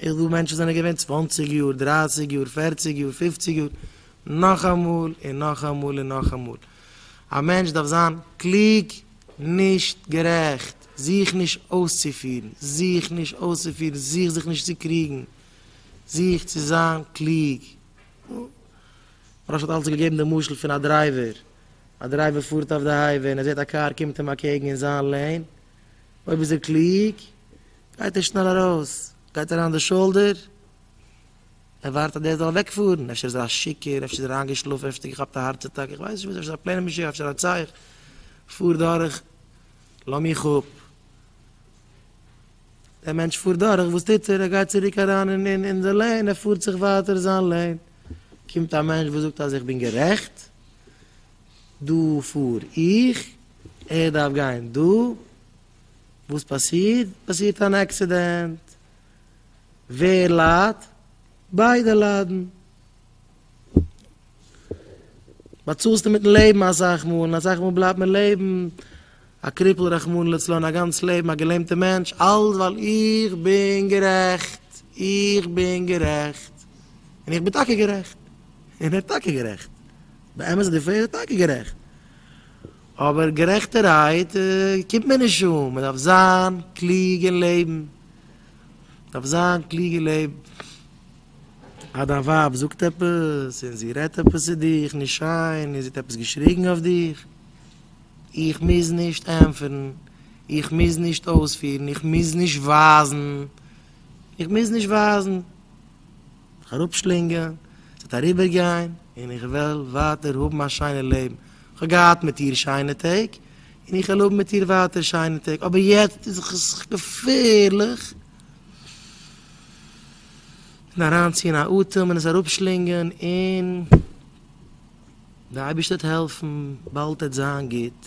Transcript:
איך וואו מענטשן זענען געווען צוואנציג יאר, דרייסיג יאר, פערציג יאר, פופציג יאר, נאכאמאל און נאכאמאל און נאכאמאל. א מענטש דארף זיין קלוג, נישט גערעכט, זוך נישט אויסצופירן, זוך נישט אויסצופירן, זוך זיך נישט צו קריגן, זוך צו זיין קלוג. נו, מרן האט אלץ געגעבן די משל פון א דרייווער, א דרייווער פארט אויף די הייוועי און ער זעט א קאר קומט אים אקעגן אין זיין לעין, אויב איז ער קלוג, גייט ער שנעל ארויס, גייט אריין אין די שאלדער, ער ווארט אז דער זאל אוועקפארן, אפשר איז ער א שיכור, אפשר איז ער איינגעשלאפן, אפשר האט ער געכאפט א הארץ אטאק, איך ווייס נישט וואס, אפשר איז ער א פלעין משוגע, אפשר א רוצח, פאר דורך, לאז מיך אפ. דער מענטש פארט דורך, וואס טוט ער? ער גייט צוריק אריין אין די לעין, ער פארט זיך ווייטער זיין לעין, קומט א מענטש וואס זאגט אז איך בין גערעכט, דא פאר איך, ער דארף גיין דא, וואס פאסירט? פאסירט אן עקסידענט, ווער ליידט? ביידע ליידן. באצאלסטו מיטן לעבן אסאך מאל, און אסאך מאל בלייבט מען לעבן א קריפל רחמנא לצלן א גאנץ לעבן א געלעמטע מענטש, אלעס ווייל איך בין גערעכט, איך בין גערעכט, און איך בין טאקע גערעכט, און ער האט טאקע גערעכט. באמת איז די פרעגער טאקע גערעכט, אבער גערעכטערהייט קומט מען נישט אן, מען דארף זיין קלוג און לעבן, מען דארף זיין קלוג און לעבן, אז דיין ווייב זאגט עפעס און זי רעדט עפעס צו דיך נישט שיין און זי האט עפעס געשריגן אויף דיך, איך מוז נישט ענטפערן, איך מוז נישט אויספירן, איך מוז נישט ווייזן, איך מוז נישט ווייזן. זיך אראפשלינגען, ס'וועט אריבערגיין, און איך וועל ווייטער האבן א שיינע לעבן, כ'האב געהאט מיט איר שיינע טעג, און איך וועל האבן מיט איר ווייטער שיינע טעג, אבער יעצט איז זיך עס געפערליך, און אריינציען א אטעם און עס אראפשלינגען, און די אייבערשטער וועט העלפן, באלד וועט זיין גוט.